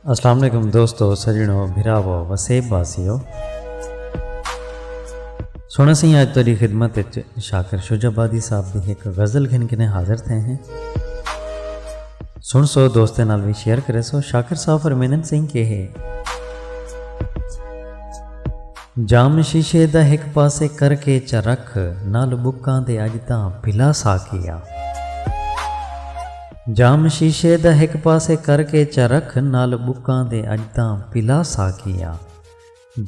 السلام علیکم دوستو سجنو بھراو وسیب واسیو سونا سی آج تیری خدمت اچ شاکر شجا بادی صاحب دی ایک غزل گھن کنے حاضر تھے ہیں سن سو دوستیں نال بھی شیئر کرے سو شاکر صاحب فرمینن سنگھ کے ہے جام شیشے دا ایک پاسے کر کے چا رکھ نال بکاں دے اج تاں بھلا سا کیا جام شیشے دا ہک پاسے کر کے چرکھ نال ٻکاں دے اڄ تاں پلا ساقی آ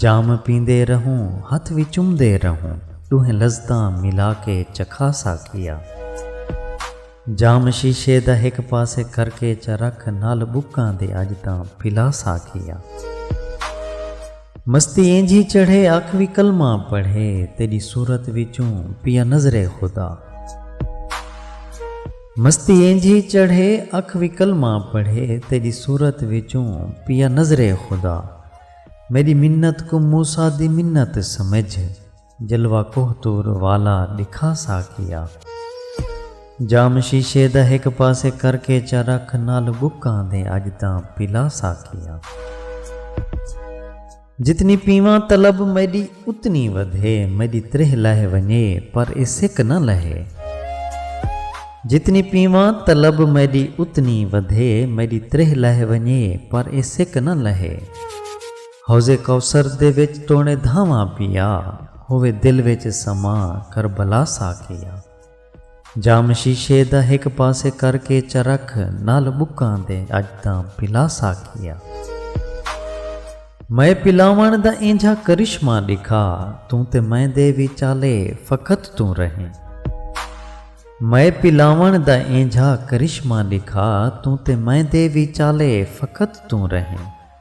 جام پیندے رہوں ہتھ وی چمدے رہوں ݙوہیں لذتاں ملا کے چکھا ساقی آ جام شیشے دا ہک پاسے کر کے چرکھ نال ٻکاں دے اڄ تاں پلا ساقی آ مستی اینجھی چڑھے اکھ وی کلمہ پڑھے تیݙی صورت وچوں پیا نظر خدا۔ مستی اینجھی چڑھے اکھ وی کلمہ پڑھے تیݙی صورت وچوں پیا نظرے خدا میݙی منت کوں موسی دی منت سمجھ جلوہ کوہ طور والا ݙکھا ساقیا جام شیشے دا ہک پاسے کر کے چا رکھ نال ٻکاں دے اڄ تاں پلا ساقیا۔ جتنی پیواں طلب میݙی اتنی ودھے میݙی تریہہ لہہ ونڄے پر اے سک نہ لہے جتنی پیواں طلب میݙی اتنی ودھے میݙی تریہہ لہہ ونڄے پر اے سک نہ لہے حوض کوثر دے وچ توݨے دھاواں پیا ہووے دل وچ سماں کربلا ساقیا۔ جام شیشے دا ہک پاسے کر کے چرکھ نال بکاں دے اج تاں پلاسا کیا۔ مئے پلاوݨ دا اینجھا کرشمہ ݙکھا توں تے مئے دے وچالے فقط توں رہیں۔ مئے پلاوݨ دا اینجھا کرشمہ ݙکھا توں تے مئے دے وچالے فقط توں رہیں۔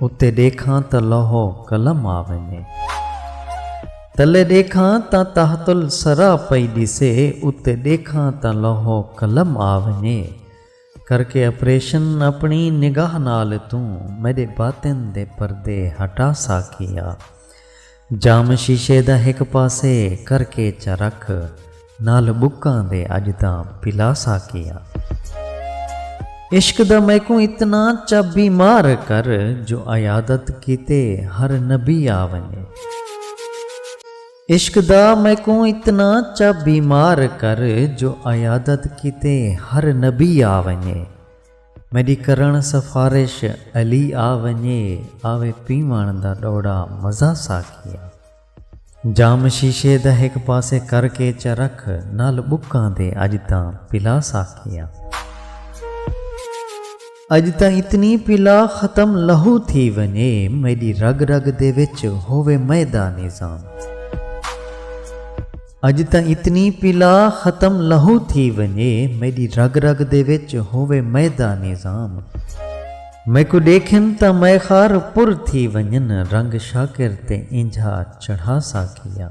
اتے ݙیکھاں تاں لوح و قلم آ ویندے۔ تلے ݙیکھاں تاں تحت الثری پئی ݙیسے اتے ݙیکھاں تاں لوح و قلم آ ویندے۔ کرکے آپریشن اپݨی نگاہ نال توں میݙے باطن دے پردے ہٹا ساکھیا۔ جام شیشے دا ہک پاسے کر کے چا رکھ نال بکاں دے اج تاں پلا ساقی آں۔ عشق دا میکوں اتنا چا بیمار کر جو عیادت کیتے ہر نبی آ ونجے۔ عشق دا میکوں اتنا چا بیمار کر جو عیادت کیتے ہر نبی آ ونجے۔ میݙی کرݨ سفارش علی آ ونڄے آوے پیوݨ دا ݙوݙا مزہ ساقیا جام شیشے دا ہک پاسے کر کے چا رکھ نال ٻکاں دے اڄ تاں پلا ساقیا اڄ تاں اتنی پلا ختم لہو تھی ونڄے میݙی رڳ رڳ دے وچ ہووے مئے دا نظام۔ اڄ تاں اتنی پلا ختم لہو تھی ونڄے میݙی رڳ رڳ دے وچ ہووے مئے دا نظام میکوں ݙیکھن تاں مئے خار پر تھی ونڄن رنگ شاکر تے اینجھا چڑھا ساقیا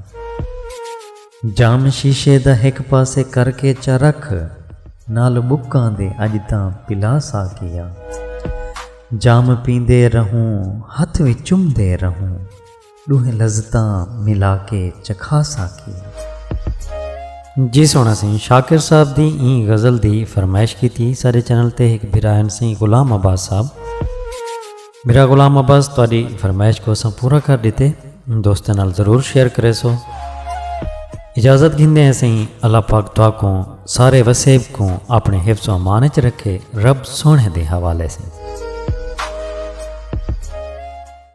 جام شیشے دا ہک پاسے کر کے چا رکھ نال ٻکاں دے اڄ تاں پلا ساقیا جام پیندے رہوں ہتھ وی چمدے رہوں۔ ݙوہیں لذتاں ملا کے چکھا ساقیا۔ جی سوہݨا سئیں شاکر صاحب دی ایں غزل دی فرمائش کیتی ساݙے چینل تے ہک بھرا ہن سئیں غلام عباس صاحب بھرا غلام عباس تہاݙی فرمائش کوں اساں پورا کر ݙتے دوستاں نال ضرور شیئر کریسو اجازت گھندے ہیں سئیں اللہ پاک تہاکوں سارے وسیب کوں اپݨے حفظ و امان اچ رکھے رب سوہݨے دے حوالے سئیں۔